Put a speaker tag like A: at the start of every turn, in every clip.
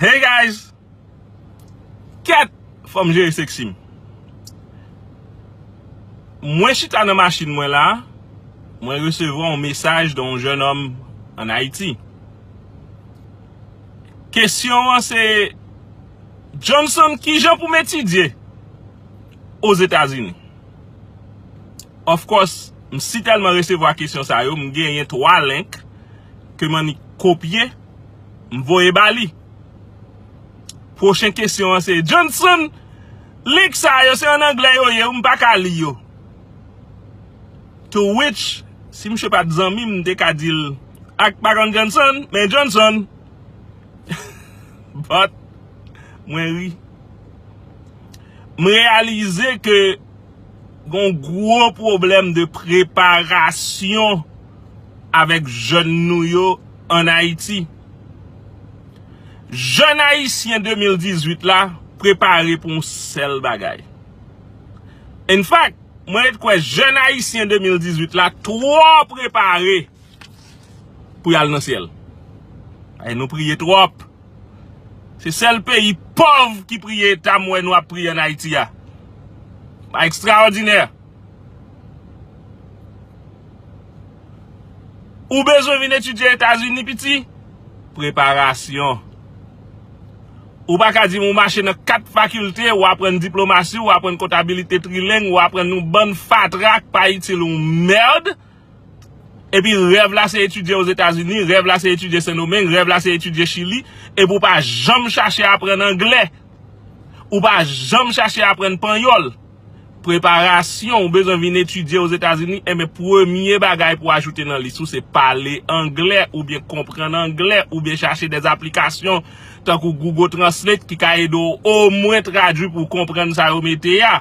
A: Hey guys Kèt fòm jere sexy m Mwen chita nan machin mwen la Mwen resevwa yon mesaj de yon jèn òm an Ayiti Kesyon an se Johnson kijan pou m etidye Ozetazini Of course m sitèlman resevwa kesyon sa yo m genyen 3 link ke m annik kopye M voye ba li. Pwochen kesyon an se Johnson, link sa yo se an anglè yo ye wi m pa ka li yo. To which, si misye pa t zanmi m m te ka di l ak pa konn Johnson, men Johnson. But, mwen ri. M reyalize ke gon gwo pwoblèm de preparasyon. avèk jèn nou yo an Ayiti. Jèn Ayisyen 2018 la prepare pou yon sèl bagay. In fact, mwen ret kwè jèn Ayisyen 2018 la twò prepare pou yal nan syèl. Ay nou priye twòp. Se sèl peyi pòv ki priye eta m wè nou ap priye an Ayiti a. Ekstraòdinè! Ou bezwen vin etidye Etazini piti? Preparasyon Ou pa ka di m ou mache nan 4 fakilte, ou aprann diplomasi, ou aprann kontabilite trileng, ou aprann yon bann fatra k pa itil yon mèrd Epi rèv la se etidye Ozetazini, rèv la se etidye Sendomeng, rèv la se etidye Chili, epi ou pa janm chache aprann angle, ou pa janm chache aprann panyòl. Preparasyon ou bezwen vin etidye Ozetazini, enben eh premye bagay pou ajoute nan lis ou se pale angle oubyen konprann angle oubyen chache dè aplikasyon tankou Google Translate ki ka ede ou omwen tradui pou konprann sa yo mete a.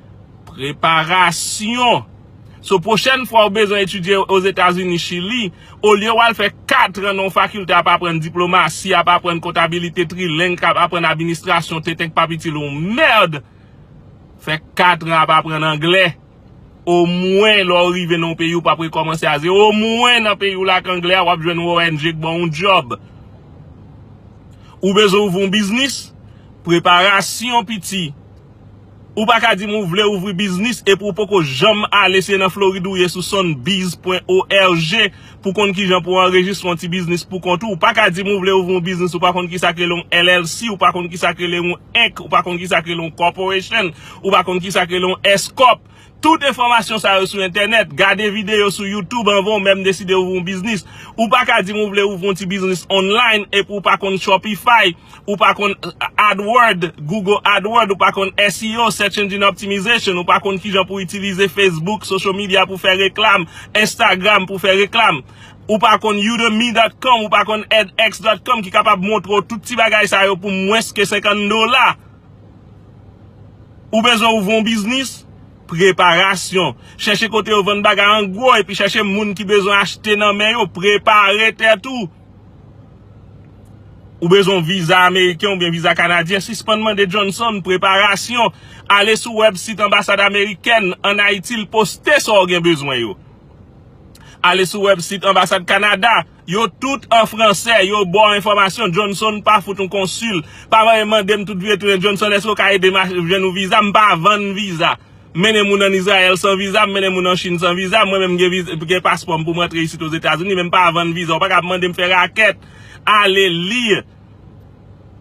A: Preparasyon So pwochèn fwa ou bezwen etidye Ozetazini, Chili, olye w al fè katran nan yon fakilte ap aprann diplomasi, ap aprann kontabilite trileng, k ap aprann administrasyon tenten k pa p itil ou mèrd, fè katran ap aprann angle. Omwen lè w rive nan yon peyi ou pa p rekòmanse a zewo. Omwen nan peyi w la ak angle a w ap jwenn yon ong k ban w yon djòb. Ou bezwen ouvri yon biznis? Preparasyon piti Ou pa ka dim ou vle ouvri biznis epi ou poko janm ale se nan Florid ou ye sou sunbiz pwen org pou konn kijan pou anrejistre yon ti biznis pou kont ou. Ou pa ka dim ou vle ouvri yon biznis ou pa konn kisa k rele yon LLC, ou pa konn kisa k rele yon Inc, ou pa konn kisa k rele yon corporation, ou pa konn kisa k rele yon S-corp. Tout enfòmasyon sa yo sou entènèt, gade videyo sou youtube anvan ou menm deside ouvri yon biznis. Ou pa ka di m ou vle ouvri yon ti biznis online epi ou pa konn Shopify, ou pa konn AdWord, Google AdWord, ou pa konn SEO, Search Engine Optimization, ou pa konn kijan pou itilize Facebook, social media pou fè reklam, Instagram pou fè reklam. Ou pa konn Udemy.com, ou pa konn edX.com ki kapab montre w tout ti bagay sa yo pou mwens ke 50 dola. Ou bezwen ouvri yon biznis? Preparasyon. Chèche kote yo vann bagay an gwo epi chèche moun ki bezwen achte nan men yo. Prepare tèt ou. Ou bezwen yon viza ameriken oubyen viza kanadyen? Sispann mande Johnson. Preparasyon. Ale sou wèb sit anbasad amerikèn an Ayiti l poste sa w gen bezwen yo. Ale sou wèb sit anbasad Kanada. Yo tout an fransè, yo baw enfòmasyon, Johnson pa fout yon konsil, pa vale mandem tout vye tounen Johnson eske ou ka edem achte jwenn yon viza, m pa vann viza, m mennen moun an Izrayèl san viza, m mennen moun an Chine san viza, mwen menm m gen paspòm poum rantre isit Ozetazini men m pa vann viza, ou paka ap mandem fè rakèt, ale li.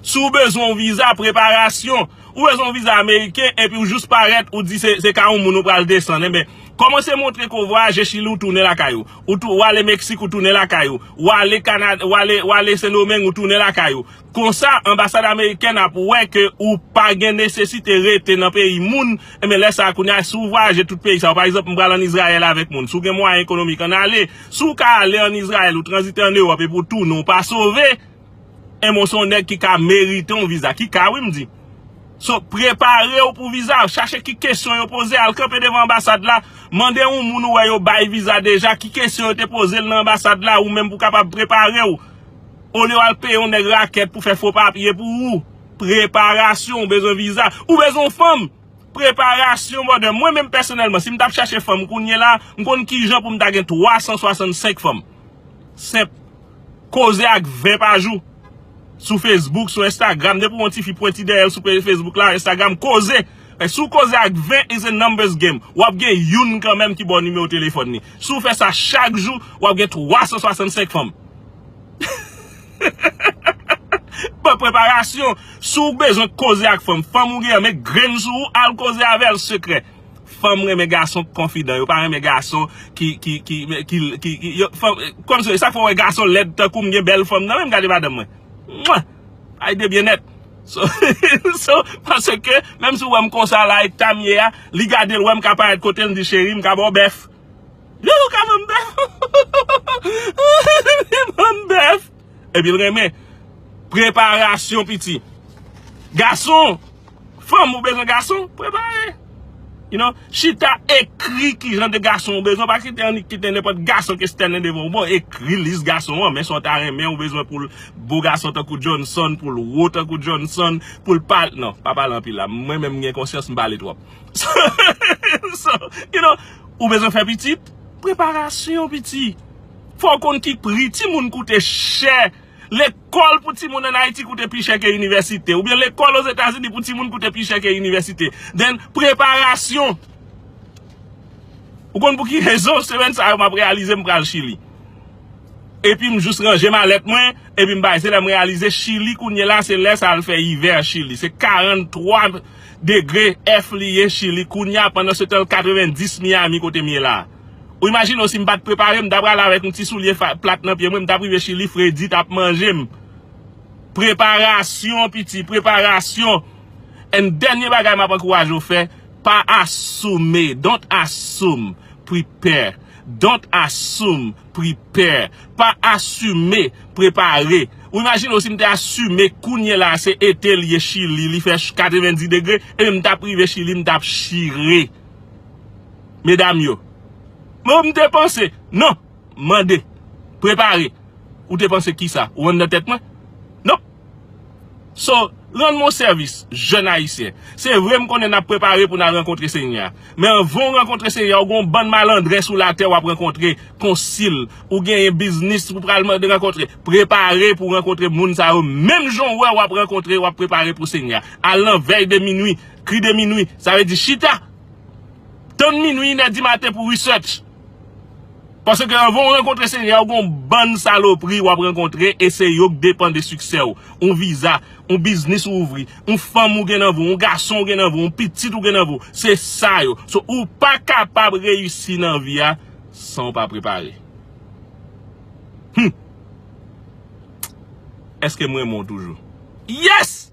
A: Si w bezwen yon viza preparasyon, ou bezwen yon viza ameriken epi ou jous parèt ou di se ka yon moun ou pral desann enben kòmanse montre ke w vwayaje chili ou tounen lakay ou, ou ale meksik ou tounen lakay ou, ou ale kanada ou ale sendomeng ou tounen lakay ou konsa anbasad amerikèn ap wè ke ou pa gen nesesite rete nan peyi moun enben lè sa kounye a si w vwayaje tout peyi sa yo pa egzanp m pral an izrayèl avèk moun si w gen mwayen ekonomik ann ale. Si w ka ale an Izrayèl, ou tranzite an Ewòp epi w tounen w pa sove, enben w se yon nèg ki ka merite yon viza. Ki ka wi m di. So, prepare w pou viza a. Chache ki kesyon yo poze. Al kanpe devan anbasad la. Mande yon moun ou wè yo bay viza deja ki kesyon yo te poze l nan anbasad la ou menm pou w kapab prepare w. Olye w al peye yon nèg rakèt pou fè fo papye pou ou. Preparasyon, ou bezwen viza. Ou bezwen yon fanm. Preparasyon brother, mwen menm pèsonèlman si m tap chache fanm kounyela m konn kijan pou m ta gen 365 fanm. Senp. Koze ak 20 pa jou. Sou Facebook, sou Instagram, depi w yon tifi pwenti dèyè l sou Facebook la, Instagram, koze. Si w koze ak 20 is a numbers game, w ap gen youn kanmenm ki ba w nimewo telefòn li. Si w fè sa chak jou, w ap gen 365 fanm. Pran preparasyon, si w bezwen koze ak fanm, fanm ou gen an met grenn sou ou, al koze avè l sekrè. Fanm renmen gason k konfidan, yo pa renmen gason ki, ki, ki, ki, ki, ki, yo, fanm, kòmsi, e sa k fè w wè gason lèd tankou m gen bèl fanm nan men m, gade madanm mwen. Mwah! Ay de byen nèt. So, so, paske, menm si w wè m konsa la, eta m ye a, li gade l wè m ka parèt kote l, li di, cheri m ka ba w bèf. Yon loup ka vann bèf li vann bèf epi l renmen preparasyon piti gason fanm ou bezwen gason prepare you know chita ekri ki jan de gason ou bezwen pa kite annik kite nenpòt gason ki stènen devan ou bon ekri lis gason an men sa w ta renmen ou bezwen pou l bo gason tankou Johnson pou l wo tankou Johnson pou l pa nan pa pale anpil la mwen menm m gen konsyans m pale twòp. So, you know, ou bezwen fè pitit, preparasyon piti. Fò w konn ki pri timoun koute chè. Lekòl pou timoun an Ayiti koute pi chè ke inivèsite. Oubyen lekòl ozetazini pou timoun koute pi chè ke inivèsite. Then, preparasyon. Ou konn pou ki rezon semèn sa yo m ap reyalize m pral Chili. Epi m jous ranje malèt mwen, epi m bay. Se lè m reyalize Chili kounye la, se lè sa l fè ivè Chili. Se 43. Degre F li ye chili kounya pandan se tan 90 Miami kote m ye la. Ou imajine w si m pat prepare m ta prale avèk yon ti soulye plat nan pye mwen m tap rive chili fredi tap manje m. Preparasyon piti preparasyon and dènye bagay map ankouraje w fè pa assume don't assume prepare don't assume. prepare, pa assume, prepare ou imagine w si m te assume kounye la se ete li ye chili li fè 90 degre ebyen m tap rive chili m tap chire medam yo oh m te panse non mande prepare ou te panse kisa ou andan tèt mwen non. So, rann mwen yon sèvis, jèn Ayisyen. Se vre m konnen n ap prepare pou n al rankontre Senyè a. Men anvan w rankontre Senyè a, ou gen yon bann malandren sou latè w ap rankontre, konsil, ou genyen biznis ou pral mande rankontre. Prepare pou w rankontre moun sa yo menm jan w wè w ap rankontre, w ap prepare pou Senyè a. Al nan vèy de minui, kri de minui. Sa vle di chita, tann minui, inè di maten pou research. Paske anvan ou rankontre Senyè a, ou gen yon bann salopri ou ap rankontre e se yo ki depann de siksè ou. Yon viza, yon biznis ou ouvri, yon fanm ou gen nan vre w, yon gason ou gen nan vre w, yon pitit ou gen nan vre w, se sa yo. So, ou pa kapab reyisi nan vi a san ou pa prepare. Humm! Eske m renmen w toujou? Yes!